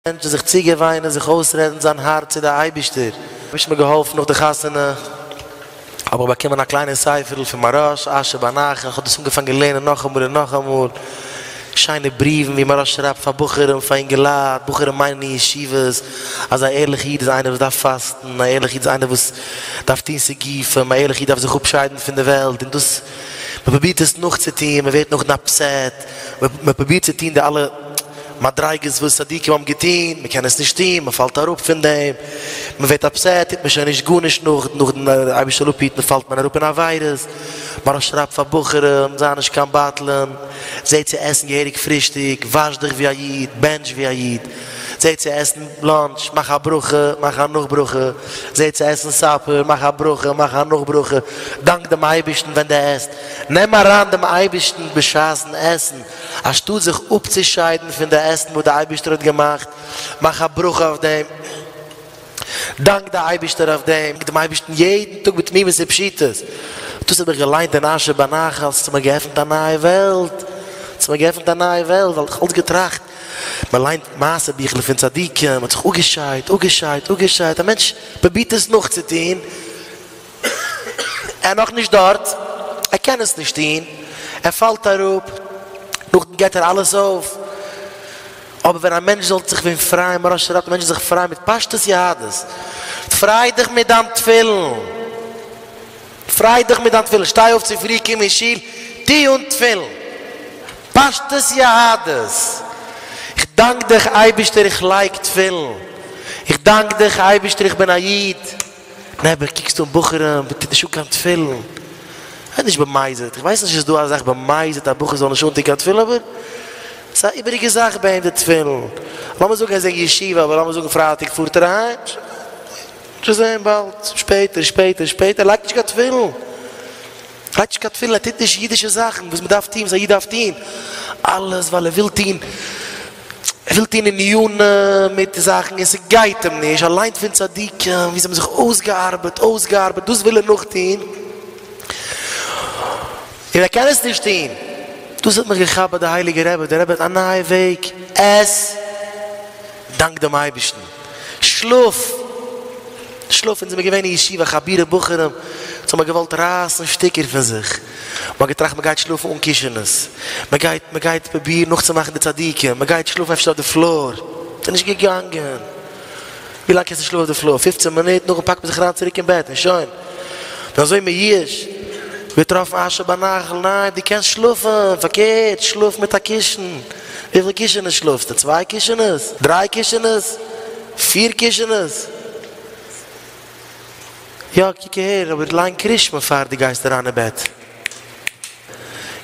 מענטשן זיך צוגעוויינען, זיך אויסרעדן זיין הארץ צו די אייבישטער. האביך מיר געהאלפן נאך די חתונה האב איך באקומען א קליינע ספר'ל פון מהרש א אשר באנח און איך האב דאס אנגעפאנגען לערנען נאכאמאל און נאכאמאל, שיינע בריוון ווי מהרש שרייבט פאר בחורים, פאר אינגעלייט, בחורים מיינען אין ישיבות, אז א ערליכע איד איז איינער וואס דארף פאסטן, א ערליכע איד איז איינער וואס דארף טון סיגופים, א ערליכע איד דארף זיך אפשיידן פון די וועלט, און דאס מען פרובירט עס נאכצוטון, מען ווערט נאכדעם אפסעט, מען פרובירט צו טון די אלע מדריגות וואס צדיקים האבן געטון, מען קען עס נישט טון, מען פאלט אראפ פון דעם, מען ווערט אפסעט, טוט מען שוין נישט גארנישט נאך, נאכדעם דער אייבערשטער זאל אפהיטן פאלט מען אראפ אין עבירות, מרן שרייבט פאר בחורים, זיי נישט קיין בטלן, זע צו עסן געהעריג פרישטאג, וואש דיך ווי א איד, בענטש ווי א איד, זע צו עסן לאנטש, מאך א ברכה, מאך א נאכברכה, זע צו עסן סאפער, מאך א ברכה, מאך א נאכברכה, דאנק דעם אייבערשטן ווען דו עסט, נעם אריין דעם אייבערשטן בשעת'ן עסן, אנשטאט זיך אפצושיידן פון די עסן וואס די אייבערשטער האט געמאכט, מאך א ברכה אויף דעם, דאנק די אייבערשטער אויף דעם, דאנק דעם אייבערשטן יעדן טאג בתמימות ופשיטות, דאס האב איך געליינט אין אשר בנחל, עס האט מיר געעפנט א נייע וועלט, עס האט מיר געעפנט א נייע וועלט, ווייל איך האב אלץ געטראכט, מען ליינט מעשה ביכלעך פון צדיקים, מען האט זיך אפגעשיידט, אפגעשיידט, אפגעשיידט, א מענטש פרובירט עס נאכצוטון, איז נאך נישט דארט, ער קען עס נישט טון, ער פאלט אראפ, נאכדעם געט ער אלעס אויף. אבער ווען א מענטש זאל זיך ווען פרייען, מוהרא ש רעדט מענטשן זיך פרייען מיט פשטות יהדות, פריי דיך מיט דיין תפילין, פריי דיך מיט דיין תפילין, שטיי אויף צופרי, קום אין שול, טו אן תפילין, פשטות יהדות, איך דאנק דיך אייבערשטער איך לייג תפילין, איך דאנק דיך אייבערשטער איך בין א איד. נעבעך קוקסטו אן בחורים וואס טוט נישט אן קיין תפילין, ווער נישט במזיד, איך ווייס נישט צו ס'איז דא א זאך במזיד א בחור זאל נישט אנטון קיין תפילין, אבער ס'איז א איבעריגע זאך ביי אים די תפילין, לאמיר זאגן ער איז אין ישיבה, אבער לאמיר זאגן פרייטאג פארט ער אהיים, שוין זעהן באלד, שפעטער שפעטער שפעטער, ער לייגט נישט קיין תפילין, ער לייגט נישט קיין תפילין, ער טוט נישט אידישע זאכן וואס מ'דארף טון, וואס א איד דארף טון, אלעס ווייל ער וויל טון. ער וויל טון עניינים מיט זאכן און ס'גייט אים נישט, ער ליינט פון צדיקים ווי זיי האבן זיך אויסגעארבעט, אויסגעארבעט, דאס וויל ער נאכטון, און ער קען עס נישט טון. דאס האט מיך געכאפט ביי די הייליגע רבי, דער רבי האט א נייע וועג, עס, דאנק דעם אייבערשטן, שלאף, שלאף, אונז זעמיר געווען אין ישיבה, חבירי בחורים, אונז האמיר געוואלט רייסן שטיקער פון זיך. מען האט געטראכט מען גייט שלאפן אן קישענעס, מען גייט מען גייט פראבירן נאכצומאכן די צדיקים, מען גייט שלאפן אפשר אויף די פלאר, ס'איז נישט געגאנגען, ווי לאנג קענסטו שלאפן אויף די פלאר, פֿופֿצן מינוט, נאכדעם פאקט מען זיך אריין צוריק אין בעט און שוין, און אזוי מייאש, געטראפן אשה בנחל, ניין דו קענסט שלאפן, פארקערט שלאף מיט א קישן, וויפיל קישענעס שלאפסטו, צוויי קישענעס? דריי קישענעס? פיר קישענעס? יא קוק אהער, אבער ליין קרישמע פאר דו גייסט אריין אין בעט.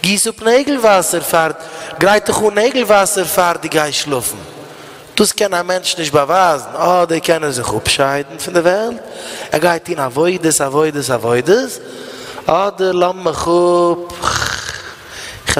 גיס אפ נעגל וואסער פאר, גרייט דיך אן נעגל וואסער פאר דו גייסט שלאפן. דאס קען א מענטש נישט באווייזן, אדער קען ער זיך אפשיידן פון די וועלט, ער גייט טון עבודות עבודות עבודות, אדער לאמיר מיך אפ.